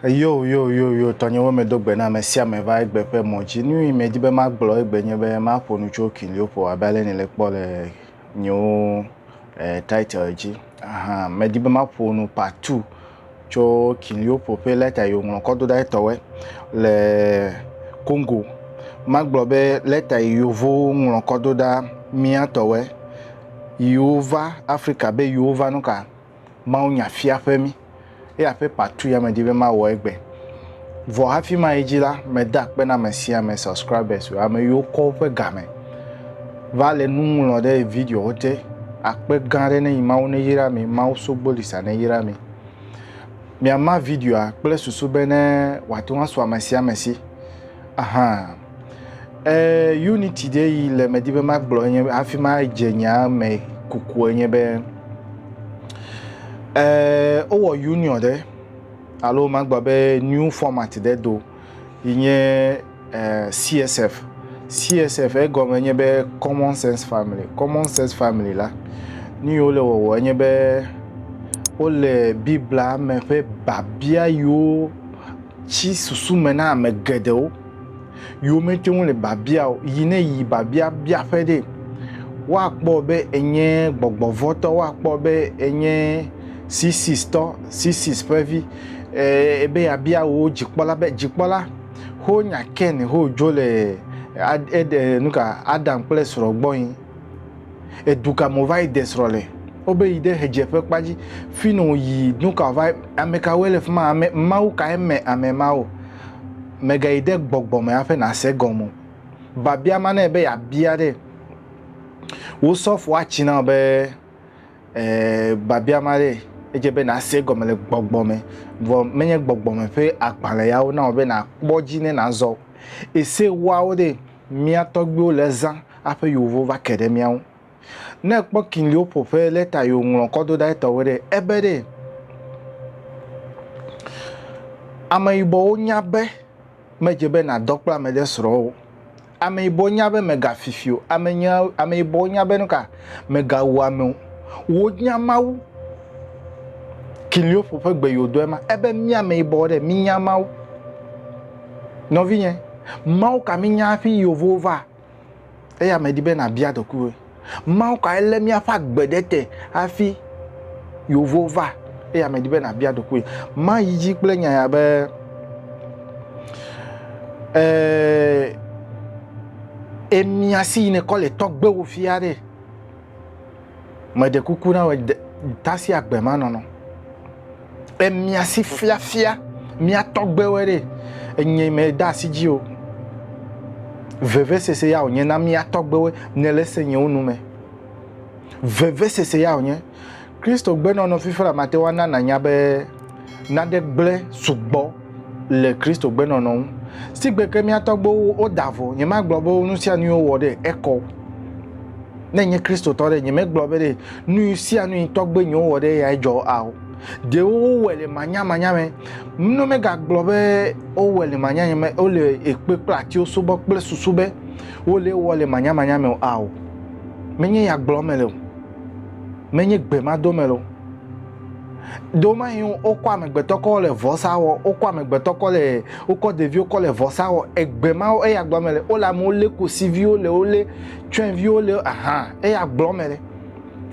yo yo yo yo tɔnyewo me do gbe na ame sia ame va egbe ƒe mɔ dzi nu yi me di be magblɔ egbe nye be maƒo nu tso kiliopol abe ale ni le kpɔ le nyewo eh, title dzi aha medi be maƒo nu part two tsɔ Kinliopo ƒe lɛta yi wòŋlɔ kɔ do ɖa etɔwɛ le Congo. Magblɔ be lɛta yi Yevowo ŋlɔ kɔ do ɖa mía tɔwɛ yiwo va Afrika be yiwo va nuka? Mawunya fiaƒe mí. Eya ƒe patu ya medi be mawɔ egbe. Vɔ hafi mayi dzi la, meda akpe na ame sia ame subscribers o, ame yiwo kɔ woƒe ga me va le nu ŋlɔ ɖe videowo te. Akpe gã aɖe nenyi Mawu neyra mi, Mawu Sogbolisa neyra mi. Miama videoa kple susu be ne wòate ŋu asu ame sia ame si. Aha. E, unity ɖe yi le medi be magblɔ enye hafi madze nyaa me kuku enye be e, wowɔ union ɖe Alo magblɔ be new format ɖe do yi nye eh, CSF. CSF egɔme nye be Common Sense Family. Common Sense Family la, nu yiwo le wɔwɔ enye be wole Biblia me ƒe biabia yiwo tsi susu me na ame geɖewo. yiwo mete ŋu le biabia o yi ne yi biabia biaƒe ɖe. Woakpɔ be enye gbɔgbɔvɔtɔ, woakpɔ be enye sisistɔ, sisis ƒe vi, ee, be yeabia wo dzikpɔla be dzikpɔla, ho nya Ken ho dzo le eɖe nuka Adam kple srɔ̃ gbɔ yi. Edu ka mo va yi de srɔ̃ le? Wobe yi ɖe hedzeƒe kpa dzi, fi no yi nuka va amekawoe le fi ma, ame mawu kae me ame mawo. Mègayi ɖe gbɔgbɔ me hafi nàse egɔme o. Biabia ma nɛ be yeabia ɖe wò sɔfoa tsi na wò be, Ee, biabia ma ɖe edze be nàse egɔme le gbɔgbɔ me, vɔ menye gbɔgbɔ me ƒe agbalẽ ya wona wò be nàkpɔ edzi ne nàzɔ o. Ese ewoawo ɖe mía tɔgbuiwo le zã hafi yovo va ke ɖe mía ŋu. Ne ekpɔ kiliwo ƒo ƒe lɛta yi wòŋlɔ kɔ do ɖa etɔwo ɖe, ebe ɖe. Ameyibɔwo nya be medze be nàdɔ kple ame ɖe srɔ̃ o. Ameyibɔwo nya be mègafifi o. Amenya, ameyibɔwo nya be nuka, mègawu ame o. Wonya Mawu. Kiliwo ƒo ƒe gbe yi wòdoe ma. Ebe mí ameyibɔwo ɖe, mínya Mawu. Nɔvinye, Mawu ka mínya hafi yi wòvo va? Eya medi be nàbia ɖokuiwòe. Mawu kae lé míaƒe agbe ɖe te hafi yewo va? Eya medi be nàbia ɖokuiwòe. Mayi dzi kple nya ya be ee, emia si yine kɔ le tɔgbewo fia ɖe. Meɖe kuku na wò, tasi agbe ma nɔnɔ. E mia si fiafia mia tɔgbewe ɖe enye me da asi dzi o. Vevesese ya wònye na mia tɔgbewe ne le se nyewo nu me. Vevesese ya wònye. Kristo gbenɔnɔ fifia mate wana nanya be nane gblẽ sugbɔ le Kristo gbenɔnɔ ŋu. Sigbe ke mía tɔgbewo woda vɔ, nyemagblɔ be nu sia nu wowɔ ɖe ekɔ. Ne nye Kristotɔ ɖe, nyemegblɔ be ɖe nu sia nu yi tɔgbe nyewo wɔ ɖe eyae dzɔ ao. Ɖewo wowɔe le manyamanya me. Ne megagblɔ be wowɔe le manyamanya me, wole ekpe kple atiwo subɔ kple susu be wole wɔ le manyamanya me ao. Menye ya gblɔm mele o. Menye gbe ma dom mele o. do mahi wokɔ amegbetɔ kɔ le vɔsa wɔ wokɔ amegbetɔ kɔ le wokɔ ɖeviwo kɔ le vɔsa wɔ egbe ma eya gblɔ me le wole amewo lé kosiviwo le wole tsyɔ̃eviwo le aha eya gblɔ me le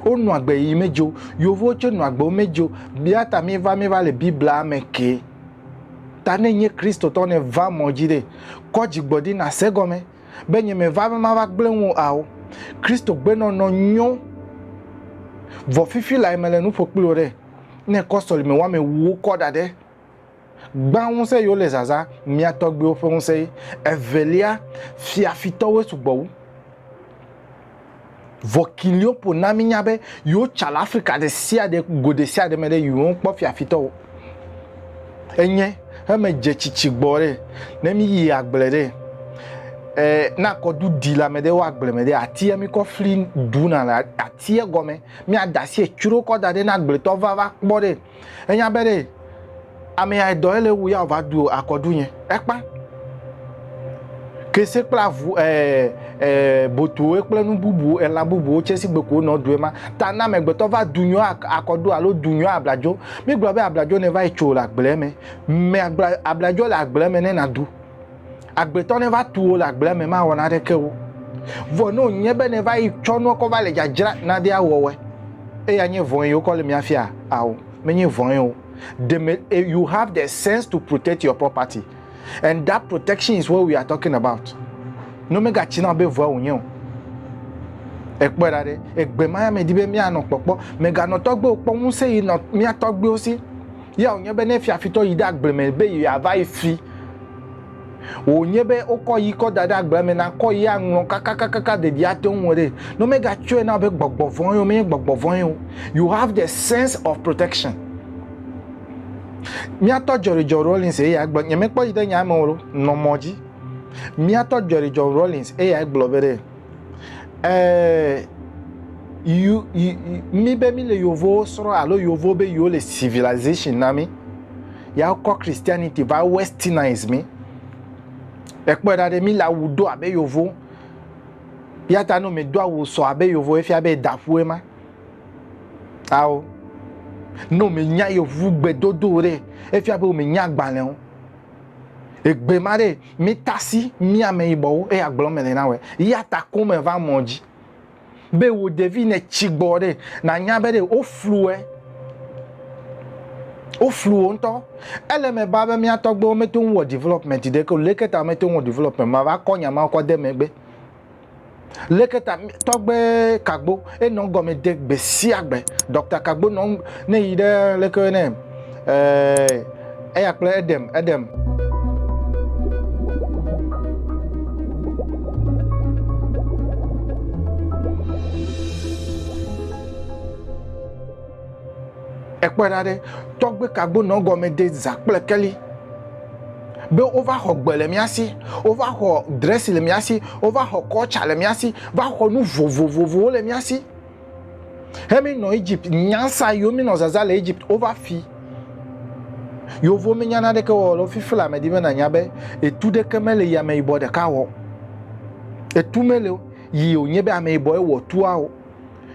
wonɔ agbe yi medzo yovowo tse nɔ agbe medzo bia ta mi va mi va le biblia me ke ta ne nye kristotɔ ne va mɔ dzi ɖe kɔ dzigbɔdi na se gɔme be nye me va be mava gblẽ ŋu ao. Kristo gbe nɔnɔ nyo. Vɔ fifi lae mele nu ƒo kpli wò ɖe. Ne kɔ sɔlime wame wuwo kɔ da ɖe. Gbã ŋusẽ yiwo le zazã, mia tɔgbiwo ƒe ŋusẽ ye. Evelia, fiafitɔwoe sugbɔ wu. Vɔ Kiliopo na mínya be yewo tsa le Afrika ɖe sia ɖe go ɖe sia ɖe me ɖe yewo ŋu kpɔ fiafitɔ wo enye heme dze tsitsi gbɔ ɖe ne mi yi agble ɖe e na kɔdu di le ame ɖe wo agble me ɖe atia mi kɔ fli ɖu na le atia gɔme mi ada si etsro kɔ da ɖe na agbletɔ va va kpɔ ɖe Enya be ɖe ame ya dɔ ele wu ya va du akɔdu nye. Ekpa. Kese kple avu e e botuwo kple nu bubu elã bubuwo tse si gbe ko nɔ due ma. Ta na amegbetɔ va du nyɔ akɔdu alo du nyɔ abladzo. Mi gblɔ be abladzo ne va yi tso le agble me. Me agble abladzo le agble me ne na du. Agbetɔ ne va tu wò le agblea me mawɔ naneke wo. Vɔ ne wònye be nèva yi tsɔ nua kɔ va le dzadzra nade awɔwɔe, eye anye vɔ̃e yi wokɔ le mia fia? Ao, menye vɔ̃e o. Ɖe me, eh, you have the sense to protect your property. And that protection is what we are talking about. Ne womegatsi na wò be vɔ̃e wònye o. Èkpɔe ɖa ɖe, egbe ma ya medi be míanɔ kpɔkpɔ. Mèganɔ tɔgbewo kpɔ ŋusẽ yi nɔ mía tɔgbewo si. Ya wònye be ne fiafitɔ yi ɖe agble me be yeava yi fi, wònye be wokɔ yi kɔ da ɖe agblea me na kɔ yi aŋlɔ kakakakaka ɖeɖi ate ŋu ɖe ne mega tsɔe na be gbɔgbɔ vɔ̃e o menye gbɔgbɔ vɔ̃e o you have the sense of protection míatɔ jɔrejɔ rollins eya gblɔ nyemekpɔ yi ɖe nya me o nɔ mɔ dzi míatɔ jɔrejɔ rollins eya gblɔ be ɖe Eh, you, you, mi be mi le yevuwo srɔ̃ alo yevuwo be yewo le civilization na mi. Ya kɔ Christianity va westernize mi. Ekpɔe ɖa ɖe mi le awu do abe yevu. Ya ta no mi do awu sɔ abe yevu efia be daƒue ma. Ao. No mi nya yevu gbedodo ɖe efia be mi nya gbalẽ o. Egbe ma ɖe mítasi mía ameyibɔwo eya gblɔ me le na wɔ. Ya ta ko me va mɔ dzi be wò ɖevi ne tsi gbɔ ɖe nanya be ɖe wofluwɛ. Woflu wo ŋutɔ. Ele me ba be mía tɔgbewo meto ŋu wɔ development ɖeke o. Leke ta meto ŋu wɔ development ma va kɔ nya ma kɔ de megbe. Leke ta tɔgbe Kagbo enɔ gɔme de gbe sia gbe. Dɔkta Kagbo nɔ ne yi ɖe leke ne eh, eya kple Edem, Edem. Ekpɔe ɖa ɖe tɔgbe Kagbo nɔ gɔme de zã kple keli. be wova xɔ gbe le mía si, wova xɔ dresi le mía si, wova xɔ kɔltsa le mía si, va xɔ nu vovovovowo le mía si. He mi nɔ Egypt nyansa yiwo mi nɔ zaza le Egypt wova fi. Yovo mi nyana ɖeke wɔ lo fifi la medi be na nya be etu ɖeke me le yame yibɔ ɖeka wɔ. Etu me le yi o nye be ame yibɔ e wɔ tua o.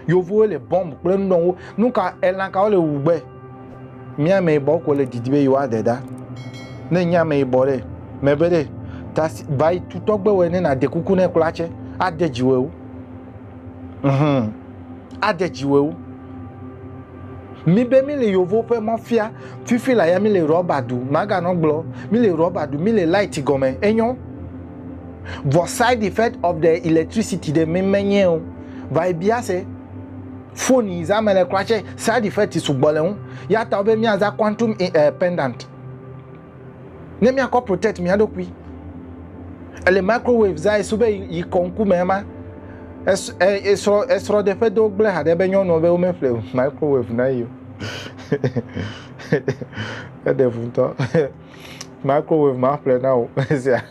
Yevuwo le bɔmb kple nudɔnwo. Nu ka elã kawo le wu gbe? Mía ame yibɔ ko le didi be yewoa de ɖa. Ne nye ame yibɔ ɖe, me be ɖe, ta si ba yi tu tɔgbe wɔ ne na de kuku ne kpla tse. A de dzi wɔ ewo. Hum. A de dzi wɔ ewo. Mi be mi le yovo ƒe mɔfia fifi la ya mi le rɔba du maga nɔ gblɔ mi le rɔba du mi le light gɔme enyɔ vɔ side effect of the electricity de mi me nye o va yi bia se phone yi za me le kura tse side effect sugbɔ le ŋu ya ta be mi aza quantum eh, pendant Ne míakɔ protect mía ɖokui, ele microwave za esu be yi kɔ ŋkume ma. Esrɔ esrɔ de ƒe do gble haɖe be nyɔnua be wo me ƒle microwave na yi. Eɖe ŋu ŋutɔ. Microwave ma ƒle na wo sia.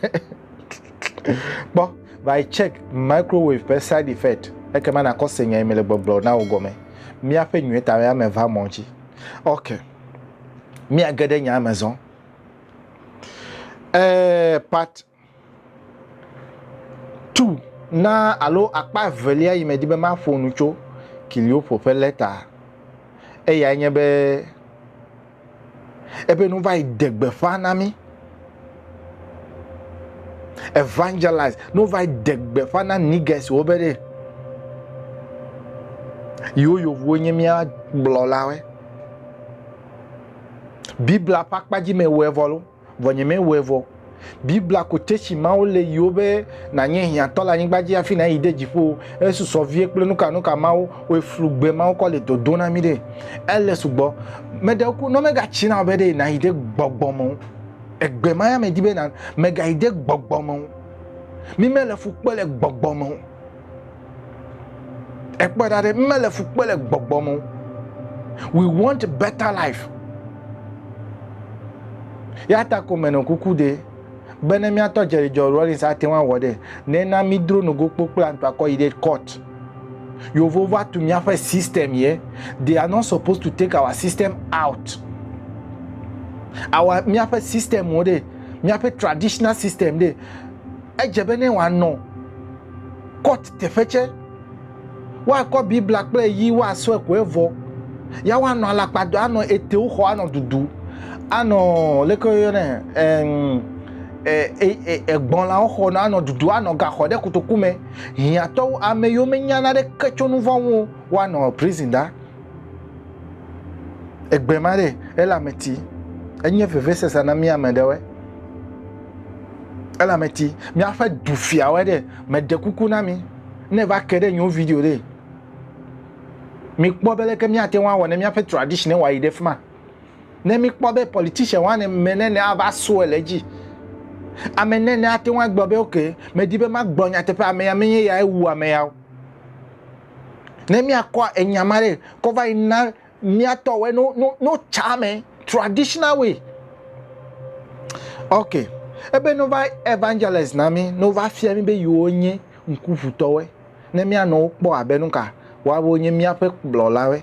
Kpɔ va check microwave ƒe side effect. Ekema nakɔ se nya yi me le gbɔgblɔ na wo gɔme. Míaƒe nyuie ta ya me va mɔ dzi. Okay. míage ɖe nyaa me zɔ. Ee, part two na alo akpa evelia yi medi be maƒo nu tso Kiliopo ƒe lɛta eyae nye be ebe nu va yi de gbeƒã na mí. evangelize ne wova de gbeƒã na nigesiwo be ɖe yewo yovuwo nye mía gblɔlawe biblia ƒe akpa dzi me wɔe vɔ lo vɔ nye me wɔe vɔ biblia ko tesi mawo le yiwo be nanye hiãtɔ le anyigba dzi hafi nayi de dziƒo esusɔ vie kple nuka nuka mawo wɔe flu gbe mawo kɔ le dodo na mi ɖe ele sugbɔ meɖe ku nɔ megatsi na be ɖe nayi de gbɔgbɔ me Egbe ma ya medi be na megayi de gbɔgbɔ me o. Mi mele fu kpe le gbɔgbɔ me o. Ekpɔ ɖa ɖe, mi mele fu kpe le gbɔgbɔ me o. We want better life. Ya ta ko menɔ kuku de be ne miatɔ Jerry John Rawlings ate ŋu awɔ ɖe, nena mi dro nogo kpokploa ŋutɔ akɔ yi ɖe court. Yeovo va tu míaƒe system ye. They are not supposed to take our system out. Awa míaƒe system wo ɖe, míaƒe traditional system ɖe. Edze be ne wòanɔ court teƒe tse, woakɔ Biblia kple yi woasɔe ko evɔ. Ya woanɔ alakpa do, anɔ etewo xɔ, anɔ dudu, anɔ leke woyɔnɛ, egbɔnlawo xɔ, anɔ dudu, anɔ gaxɔ ɖe kotoku me. hiãtɔwo ame yiwo menya naneke tso nu vɔ̃ ŋu woanɔ prison ɖa. Egbe ma ɖe elameti enye vevesese na mí ame ɖewoe. Elameti míaƒe dufiawoe ɖe meɖe kuku na mí ne va ke ɖe nyewo video ɖe mikpɔ be leke míate ŋu awɔ ne míaƒe tradition wayi ɖe fi ma. Ne míkpɔ be politician wane ame nene ava sue le edzi. Ame nene ate ŋu agblɔ be oke, medi be magblɔ nyateƒe ame ya menye ya ewu ame ya o. Ne míakɔ enya ma ɖe kɔ va yi na míatɔ wɔ no no no tsa me traditional way. Ok, ebe no va evangelize na mi, no va fia mi be yiwo nye ŋkuʋutɔwe. Ne míanɔ wo kpɔ abe nuka, woawo nye míaƒe kplɔlawe.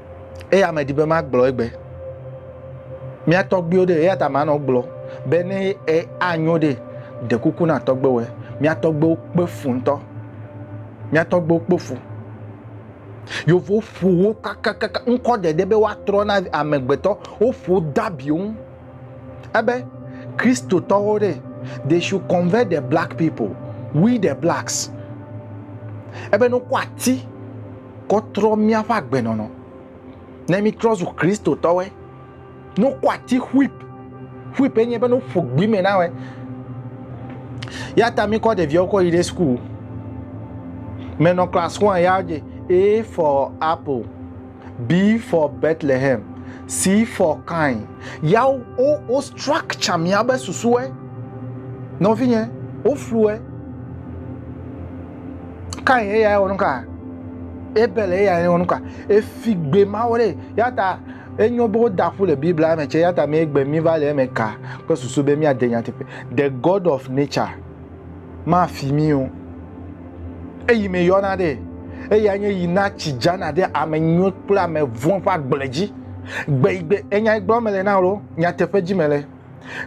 Eya ame di be magblɔ egbe. Mía tɔgbuiwo ɖe, eya ta manɔ gblɔ be ne anyo ɖe, ɖe kuku na tɔgbuiwo. Mía tɔgbuiwo kpe fu ŋutɔ. Mía tɔgbuiwo kpe fu. Yevuwo ƒo wo kakakaka ŋkɔ ɖeɖe be woatrɔ na amegbetɔ. Woƒo dabiwo ŋu. Ebe Kristotɔwo ɖe, they should convert the black people, we the blacks. Ebe ne wokɔ ati kɔtrɔ míaƒe agbenɔnɔ. Ne mítrɔ zu Kristotɔwoe, ne wokɔ ati ƒuip, ƒuip enye be ne woƒo gbi me na wɔe. Ya ta míkɔ ɖeviawo kɔ yi ɖe sukuu. Menɔ class one ya dze A for apple, B for Bethlehem, C for kind. Ya wo, wo, wo structure míabe susue. Nɔvinye, woflue. Kain eya wɔ nuka? Abel eya wɔ nuka? Efi gbe mawo ɖe. Yata enyo be woda ƒu le Biblia me tsɛ yata mee gbe mi va le eme ka kple susu be míade nyateƒe. The God of nature mafi mi o. Eyi me yɔna ɖe. Eya nye yi na tsi dzana ɖe ame nyuiwo kple ame vɔ̃ ƒe agble dzi. Gbe yi gbe enya yi gblɔm mele na wò nyateƒe dzi mele.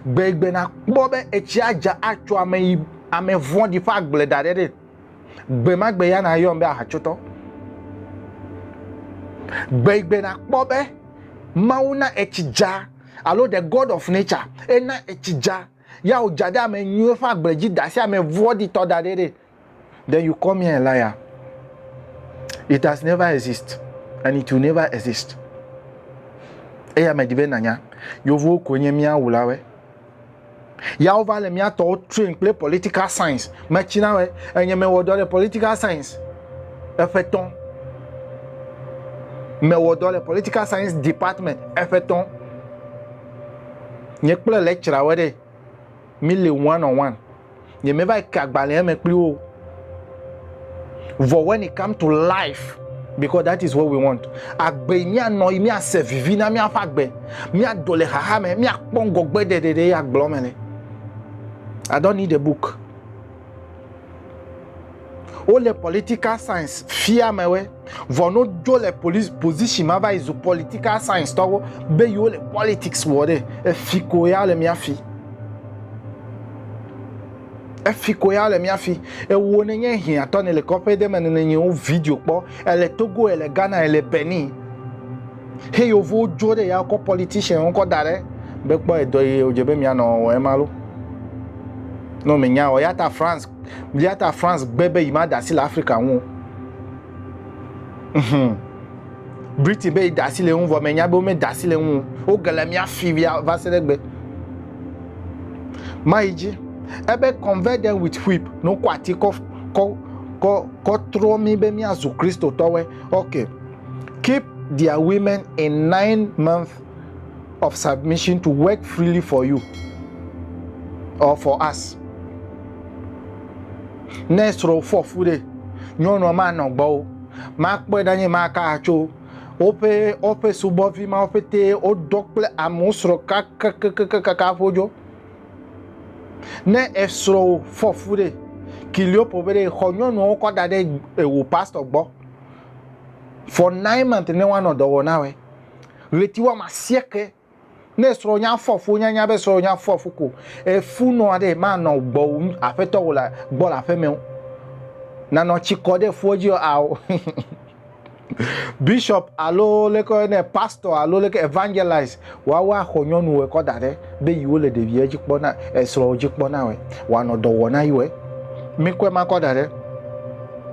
Gbe yi gbe nakpɔ be etsia dza atso ame yi Ame vɔ̃ɖi ƒe agble da ɖe ɖee. Gbe ma gbe ya nàyɔm be ahatsotɔ. Gbe yi gbe nàkpɔ be Mawu na etsi dza alo the God of nature ena etsi dza ya wòdza ɖe ame nyuiwo ƒe agble dzi da asi ame vɔ̃ɖitɔ da ɖe ɖee. Then you call me a liar. It has never exist and it will never exist. Eya medi be nànya. Yevuwo koe nye mía wulawoe. Ya wova le mía tɔwo train kple political science. Metsi na wɛ enye mewɔ dɔ le political science eƒe tɔn. Mewɔ dɔ le political science department eƒe tɔn. Nye kple lecturer wɛ ɖe mi le one on one. Nyemeva yi ke agbalẽa me kpli wo o. Vɔ when it come to life, because that is what we want. Agbe yi míanɔ yi míase vivi na míaƒe agbe, míado le xaxa me, míakpɔ ŋgɔgbe ɖeɖeɖe ye agblɔ me le. I don't need a book. Wo le political science fia me we vɔ no jo le police position ma va yi zu political science tɔ wo be yo le politics wɔ ɖe efi ko ya le mia fi efi ko ya le mia fi ewo ne nye hia tɔ ne le kɔƒe de me ne ne nye wo video kpɔ ele Togo ele Ghana ele Benin he yo vo jo ɖe ya kɔ politician wo kɔ da ɖe be kpɔ edɔ ye o je be mia nɔ wɔ ema lo no me nya o ya ta France Eya ta France gbe be yimada asi le Afrika ŋu. Mhm. Britain be yeda asi le ŋu vɔ menya be womeda asi le ŋu. Woge le mía fi va se ɖe gbe. Mayi dzi. Ebe convert them with whip ne wokɔ ati kɔ kɔ kɔ kɔ trɔ mi be míazu Kristotɔwoe. Okay. Keep their women in nine months of submission to work freely for you or for us. Ne srɔ̃ fɔ fu ɖe, nyɔnua manɔ gbɔ o, makpɔe ɖa nye maka atso woƒe woƒe subɔvi ma woƒete wodɔ kple amewo srɔ̃ kakakakakaka ƒodzo. Ne esrɔ̃ fɔ fu ɖe, kiliopo be ɖe xɔ nyɔnuawo kɔ da ɖe ewo pastor gbɔ for nine months ne woanɔ dɔ wɔ na wɛ. ɣleti woame asieke ne srɔ̃ nya fɔ fu nyanya be srɔ̃ nya fɔ fu ko efu nɔ aɖe manɔ gbɔ aƒetɔ wò le gbɔ le aƒeme o nanɔ tsi kɔ ɖe fua dzi ao bishop alo leke ne pastor alo leke evangelize woawo axɔ nyɔnu ekɔ da ɖe be yiwo le ɖevia dzi kpɔ na esrɔ̃ dzi kpɔ na wɔ wɔanɔ dɔ wɔ na yiwo mikɔe makɔ da ɖe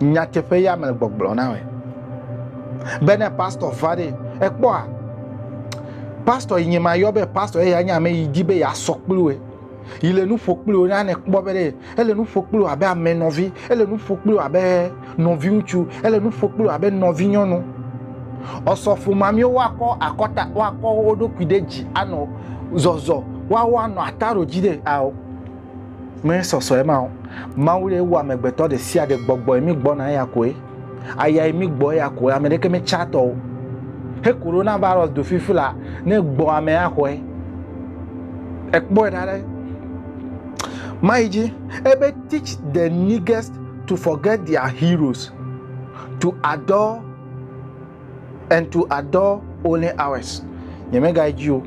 nyateƒe ya mele gbɔgblɔ na me. Be ne pastor va ɖe ekpɔa pastor yi nye ma yɔ be pastor eya nye ame yi di be yeasɔ kpli wo yi le nu ƒo kpli wo na ne kpɔ be ɖe ele nu ƒo kpli wo abe ame nɔvi ele nu ƒo kpli wo abe nɔvi ŋutsu ele nu ƒo kpli wo abe nɔvi nyɔnu ɔsɔfo mamio woakɔ akɔta woakɔ wo ɖokui ɖe dzi anɔ zɔzɔ woawo anɔ ataro dzi ɖe ao Mee sɔsɔe ma o. Mawu ye wɔ amegbetɔ ɖe sia ɖe gbɔgbɔe mi gbɔna eya koe. Ayae mi gbɔ eya koe. Ame ɖeke me tsa tɔ o. He corona virus do fifi la, ne gbɔ ame axɔe. Ekpɔe ɖa ɖe. Mayi dzi. Ebe teach the niggest to forget their heroes, to adore Entu adɔ only hours nyemega edzi o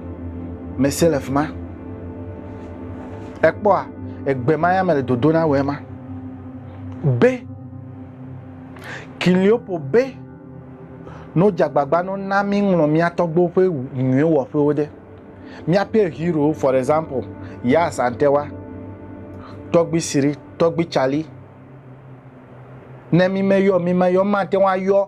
mese le fima ekpɔa egbe ma ya mele dodo na wema be kiliopo be no dzagbagba no na mi ŋlɔ mia tɔgbewo ƒe nyuie wɔƒewo ɖe miaƒe hero for example ya asantewa tɔgbi siri tɔgbi cali ne mi me yɔ mi me yɔ matewa yɔ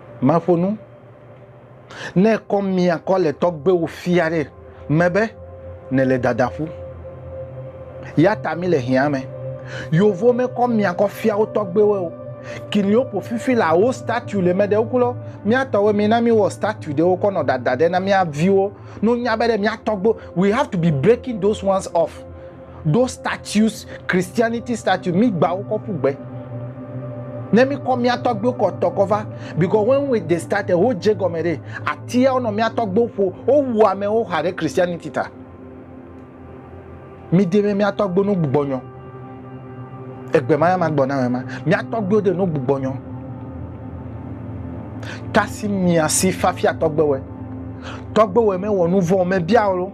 Maƒo nu. Ne kɔ mia kɔ le tɔgbewo fia ɖe me be nele dada ƒu. Yata mi le hia me. Yovo me kɔ mia kɔ fia wo tɔgbewe o. Kini wo po fifi la wo statue le me ɖe woklo. Mia tɔwe mi na mi wɔ statue ɖe wokɔ nɔ dada ɖe na mia viwo. No nya be ɖe mia tɔgbe. We have to be breaking those ones off. Those statues, Christianity statue, mi gba wo kɔ ƒu gbe. Ne mi kɔ mia tɔgbewo kɔ tɔ kɔ va, because when we they started, wo dze gɔme ɖe, atia wonɔ mia tɔgbewo ƒo, wo wu amewo xa ɖe Christianity ta. Mi de me mia tɔgbewo no gbugbɔ nyɔ. Egbe ma ya ma gbɔ na me ma. Mia tɔgbewo de no gbugbɔ nyɔ. Kasi mia si fafia tɔgbewe. Tɔgbewe me wɔ nu vɔ, me bia wo.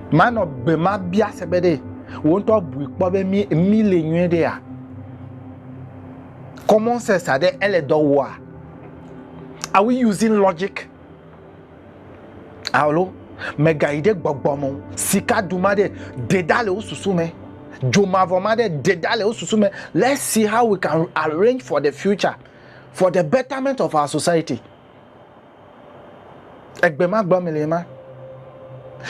Manɔ gbe ma bia se be ɖe wò ŋutɔ bui kpɔ be mi mi le nyuie ɖea? Common sense aɖe ele dɔ wɔa? Are we using logic? Alo mègayi ɖe gbɔgbɔ me o. Sika du ma ɖe ɖe ɖa le wo susu me. Dzo mavɔ ma ɖe ɖe ɖa le wo susu me. Let's see how we can arrange for the future, for the betterment of our society. Egbe ma gbɔ me le ma.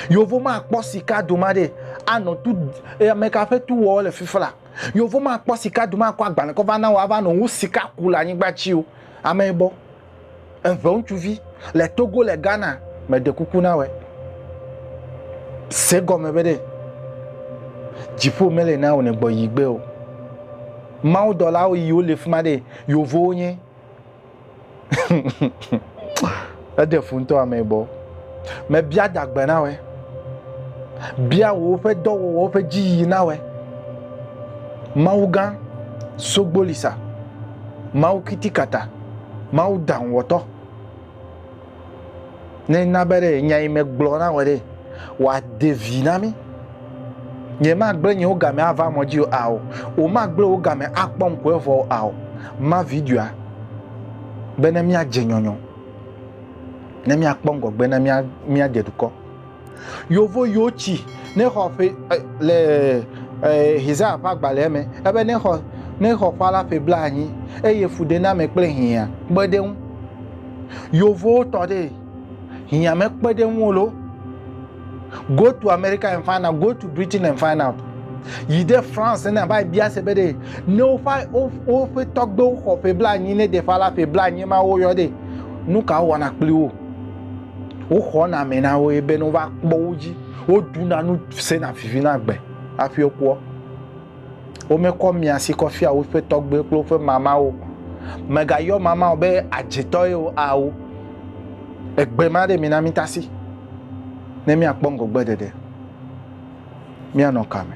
Yovo ma kpɔ sika do ma ɖe anɔ tu e, ame ka ƒe tu wɔ le fifla. Yovo ma kpɔ sika do ma kɔ agbalẽ kɔ va na wòa va nɔ ŋu sika ku le anyigba tsi o. Ame yibɔ. Eve ŋutsuvi le Togo le Ghana me ɖe kuku na wɔ. Se gɔme be ɖe dziƒo mele na wò ne gbɔ yi gbe o. Mawu dɔlawo yi wole fima ɖe yovowo nye. Eɖe fu ŋutɔ ame gbɔ. Mebia dagbe na wɔ. Bia wò woƒe dɔwɔwɔ woƒe dziyiyi na wɔ. Mawu gã sogbolisa. Mawu kitikata. Mawu daŋwɔtɔ. Ne na be ɖe nya yi megblɔ na wɔ ɖe wòade vi na mí. Nyemagblẽ nye wo game ava mɔ dzi o ao. Womagblẽ wo game akpɔ ŋku evɔ o ao. Ma videoa be ne míadze nyɔnyɔ, ne míakpɔ ŋgɔgbe, ne míadze dukɔ. Yovo yiwo tsi ne xɔ ƒe le Hizaya ƒe agbalẽa me ebe ne xɔ ne xɔ ƒe alafe blaenyi eye fuɖename kple hiã kpe ɖe ŋu. Yovowo tɔ ɖe hiã me kpe ɖe ŋu lo. Go to America and find out, go to Britain and find out. Yi ɖe France ne va bia se be ɖe ne woƒe woƒe tɔgbewo xɔ ƒe blaenyi ne ɖe ƒe alafe blaenyi ma woyɔ ɖe nu ka wɔna kpli wo. Woxɔna ame na wo ye be ne wova kpɔ wo dzi, woɖuna nu sena vivi na gbe hafi wokpɔ. Womekɔ mia si kɔ fia woƒe tɔgbuiwo kple woƒe mamawo. Mègayɔ mamawo be adzetɔ ye o ao. Egbe ma ɖe mi na mitasi ne miakpɔ ŋgɔgbeɖeɖe. Míanɔ ka me?